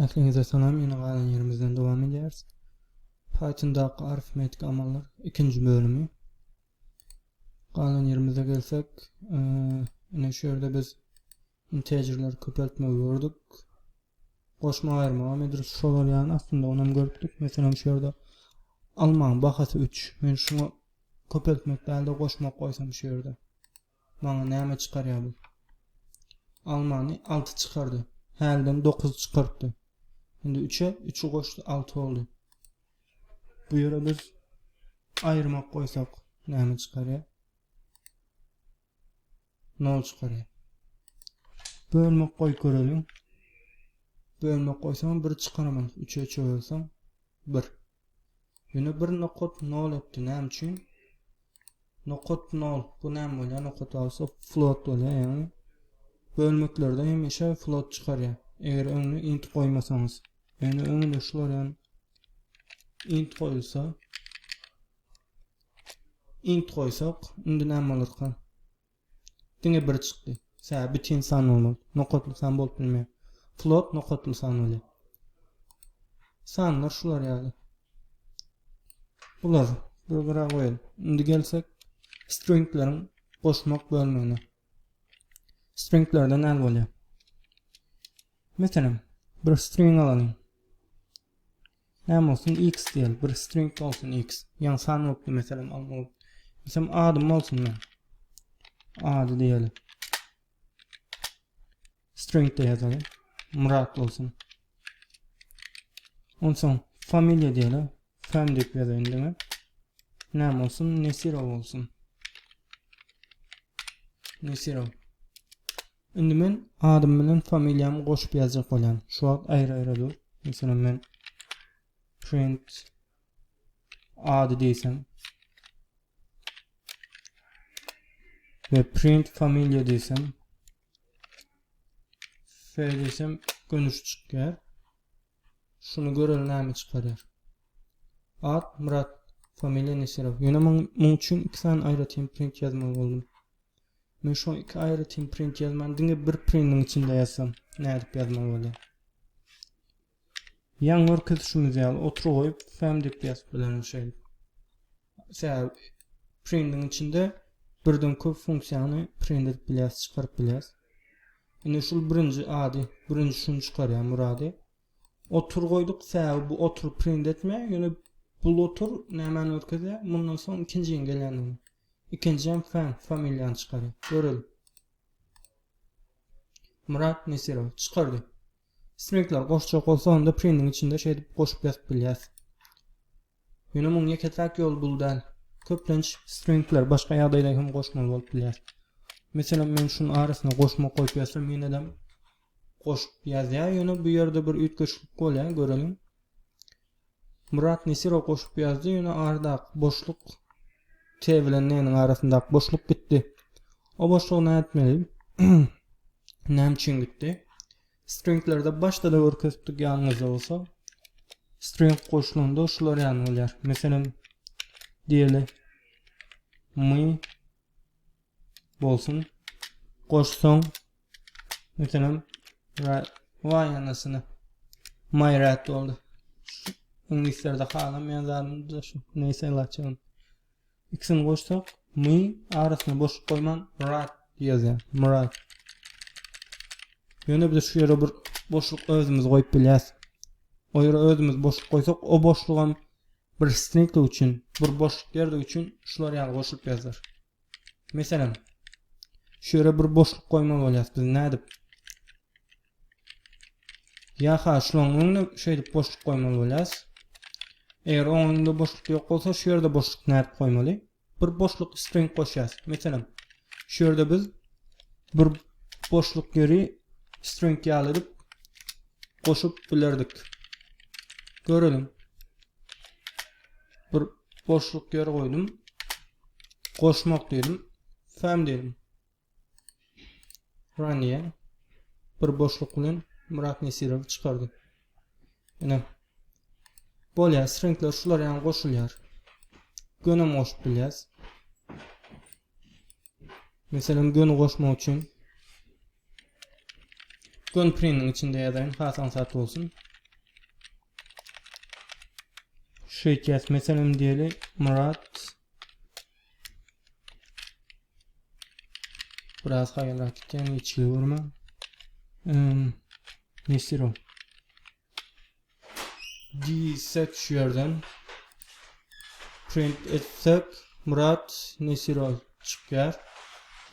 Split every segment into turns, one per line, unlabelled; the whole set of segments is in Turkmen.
Ähliňize salam ýene galan ýerimizden dowam edýäris. Pythondaky arifmetik amallar ikinji bölümi. Galan ýerimize gelsek, ine şu ýerde biz integerleri köpeltmegi gördük. Goşma aýyrmaga medrus şo bolýan aslynda onam görüpdik. Meselem şu ýerde almaň bahasy 3. Men şuňa köpeltmek däl-de goşmak goýsam şu ýerde. Maňa näme çykarýa bu? Almany alty çykardy. Hälden dokuz çykartdy. Indi üçe üçi goşdy alty boldy. Bu ýere biz aýyrmak goýsak näme çykarýa? Nol çykarýa. Bölmek goýup göreliň. Bölmek goýsam bir çykaraman. Üçe üçe bölsem bir. Ýöne bir nokat nol etdi näme üçin? Nokat nol bu näme bolýar? Nokat bolsa float bolýar ýagny bölmeklerde hemişe float çykarýar. Eger öňüne int goýmasaňyz. Ýöne öňüne şular ýan int goýulsa int goýsak indi näme bolarka? Diňe biri çykdy. Sä bütin san bolmaly. Nokatly san bolup bilmeýär. Float nokatly san bolýar. Sanlar şular ýaly. Bular bir gara goýalyň. Indi gelsek stringleriň goşmak bölmegine. Stringlerde näme bolýar? Meselem, bir string alalyň. Näme bolsun X diýeli bir string bolsun X ýaňy san bolupdy meselem alma bolup Meselem adym bolsun men ady diýeli string de ýazaly Murat bolsun Onsoň familiýa diýeli fam diýip ýazaýyn indi men Näme bolsun Nesiro bolsun Nesiro Indi men adym bilen familiýamy goşup ýazjak bolýan. Şu wagt aýra-aýra dur. Meselem men print ady diýsem we print familiýa diýsem F diýsem gönüş çykýar. Şuny göreli näme çykarýar? Ad Murat familiýa Nesirov. Ýöne muň muň üçin iki sany aýratyn print ýazmaly boldum. Men şoňa iki aýratyn print ýazman, diňe bir printiň içinde ýazsam, nädip ýazmaly bolýar? Ýaňy görkezişimiz ýaly otur goýup, fm diýip ýazyp bilerin şeýle. Sebäbi printiň içinde birden köp funksiýany print edip bilýäs, çykaryp bilýäs. Indi şul birinji ady, birinji şuny çykarýan murady. Otur goýduk, sebäbi bu otur print etmeýär, ýöne bul otur nämeni görkezýär? Mundan soň ikinji gelýänini. Ikinjäm fan familiýany çykary. Göreli. Murat Nesirow. Çykardy. Stringler goşjak bolsa onda printiň içinde şeýdip goşup ýazyp bilýäs. Ýöne muň ýeke-täk ýoly bul däl. Köplenç stringler başga ýagdaýda hem goşmaly bolup bilýär. Meselem men şuny arasyna goşma goýup ýazsam ýenedem goşup ýazýar ýöne bu ýerde bir üýtgeşiklik bolýar göreliň Murat Nesirow goşup ýazdy ýöne ardak boşluk T bilen N-iň arasyndaky boşluk gitdi o boşlugy näme etmeli näme üçin gitdi stringlerde başda da görkezdik ýanyňyzda bolsa string goşulanda şular ýany bolýar meselem diýeli my bolsun goşsaň meselem waý anasyny maý rät boldy iňlislerde halamýan zadymda şu neýse laçyn ikisini goşsak my arasyna boşluk goýman rat ýazýar myrat ýöne biz şu ýere bir boşluk özümiz goýup bilýäs o ýere özümiz boşluk goýsak o boşlugam bir stringlik üçin bir boşluk ýerlik üçin şular ýaly goşulyp ýazylar Meselem, şu ýere bir boşluk goýmaly bolýar. Biz nädip? Ýa-ha şularyň öňüne şeýdip boşluk goýmaly bolýar. Eger oň öňünde boşluk ýok bolsa, şu ýerde boşluk nädip goýmaly? Bir boşluk string goşýar. Meselem, şu ýerde biz bir boşluk ýeri string ýaly edip goşup bilerdik. Görelim. Bir Boşluk ýer goýdum. Goşmak diýdim. Fem diýdim. Raniye bir boşluk bilen Murat Nesirow çykardy. Ine. Bolýar, stringler şular ýaly goşulýar. Gönem goşup bilýäs. Meselem, göni goşmak üçin gön priniň içinde ýazaýyn, has aňsat bolsun. Şu etýäs meselem diýeli Murat. Biraz haýalrak gitýän içli görme. Nesiro. Diýsek şu ýerden print etsek Murat Nesiro çykýar.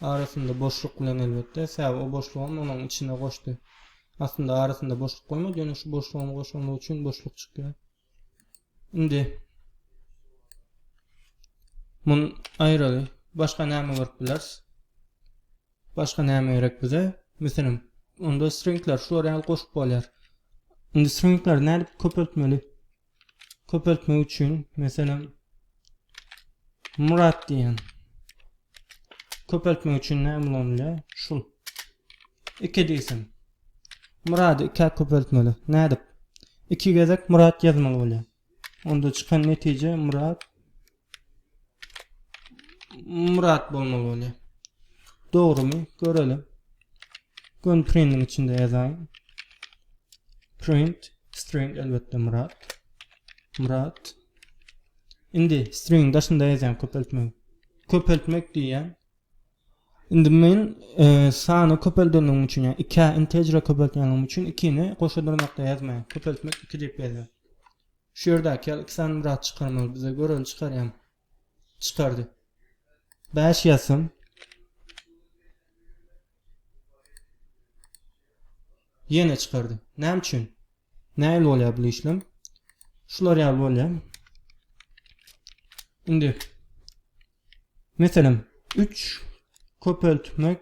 Arasynda boşluk bilen elbetde. Sebäbi o boşlugy onuň içine goşdy. Aslynda arasynda boşluk bolmaýar, ýöne şu boşlugyň goşulmagy üçin boşluk çykýar. Indi mun aýraly başga näme görüp bileris? Başga näme gerek bize? Meselem, onda stringler şular ýaly goşup bolýar. Indi stringleri nädip köpeltmeli? köpeltmek üçin meselem Murat diýen köpeltmek üçin näme ulanylýar? Şul. 2 diýsem. Murady 2 köpeltmeli. Nädip? 2 gezek Murat ýazmaly bolýar. Onda çykan netije Murat Murat bolmaly bolýar. Dogrumy? Görelim. Gun printiň içinde ýazaýyn. Print string elbetde Murat. Murat. Indi string daşynda ýazýan köpeltmek. Köpeltmek diýýän. Indi men e, sany köpeldenligim üçin, ýa 2 integer köpeltýänligim üçin 2-ni goşa dyrnakda ýazmaýan. Köpeltmek 2 diýip ýazýan. Şu ýerdäki ýaly iki sany Myrat çykarmaly bize. Göreli çykarýan. Çykardy. Bäş ýazsam. Ýene çykardy. Näme üçin? Nähili bolýar bu işlem? Şular ýaly bolýar. Indi meselem 3 köpeltmek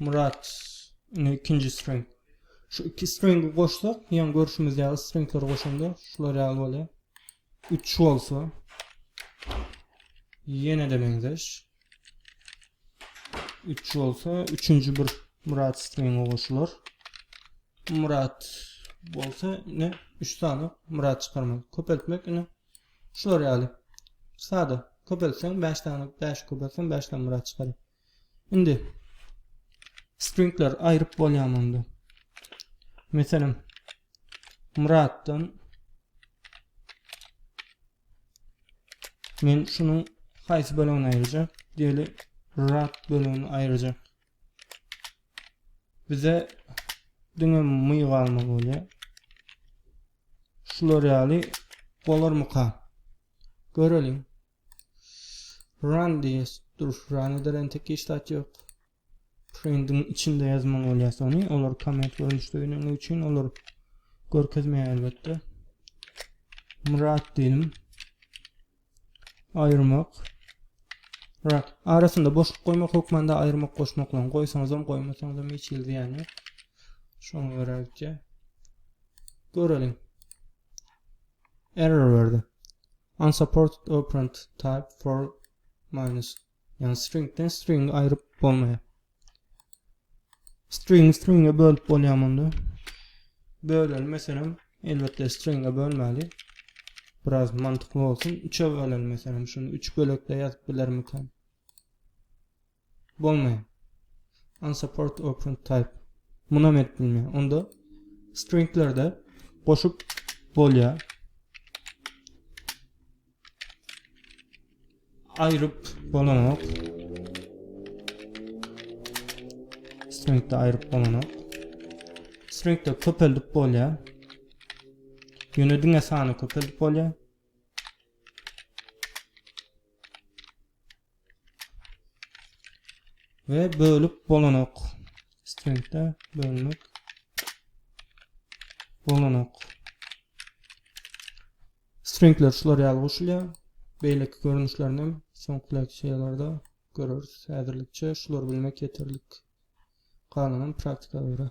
Murat, indi ikinji string. Şu iki stringi goşsak, ýa görüşimiz ýaly stringleri goşanda şular ýaly bolýar. 3 bolsa ýene-de meňzeş. 3 bolsa, üçünji bir Murat stringi goşular. Murat bolsa, ne 3 sany Murat çykarmak. Köpeltmek ine Şular ýaly. Sada. Köpeltseň bäş sany bäşi köpeltseň bäş sany murad çykaryp. Indi stringler aýryp bolýamy onda? Meselem muraddan men şunuň haýsy bölegini aýyrjak? Diýeli rad bölegini aýyrjak. Bize diňe myg almaly bolýar. Şular ýaly bolarmyka? Göreliň. Run diýes. Dur, run eder entek hiç zat ýok. Printiň içinde ýazmaly bolýar sony. Olar komment görnüşde gelen üçin olar görkezmeýär elbetde. Murat diýelim. Aýyrmak. Rak. Arasynda boşluk goýmak hökmanda aýyrmak goşmaklaryny goýsaňyzam, goýmasaňyzam hiç hili zyýan ýok. Şoňa görä gitýä. Göreliň. Error berdi. Unsupported operand type for minus. Yani stringden string aýryp bolmaýar. String stringe bölüp bolýar munda. Böleli meselem, elbetde stringe bölmeli. Biraz mantıkly bolsun. 3'e böleli meselem, şunu 3 bölekde ýazyp bilermikan? Bolmaýar. Unsupport or print type. Muna met bilmeýär. Onda stringlerde goşup bolýar. Aýryp bolanok. Stringde aýryp bolanok. Stringde köpeldip bolýar. Ýöne diňe sany köpeldip bolýar. we bölüp bolanok stringde bölmek bolanok stringler şular ýaly goşulýar beýleki görnüşlerini hem soňky leksiýalarda göreris häzirlikçe şular bilmek ýeterlik galanym praktika görä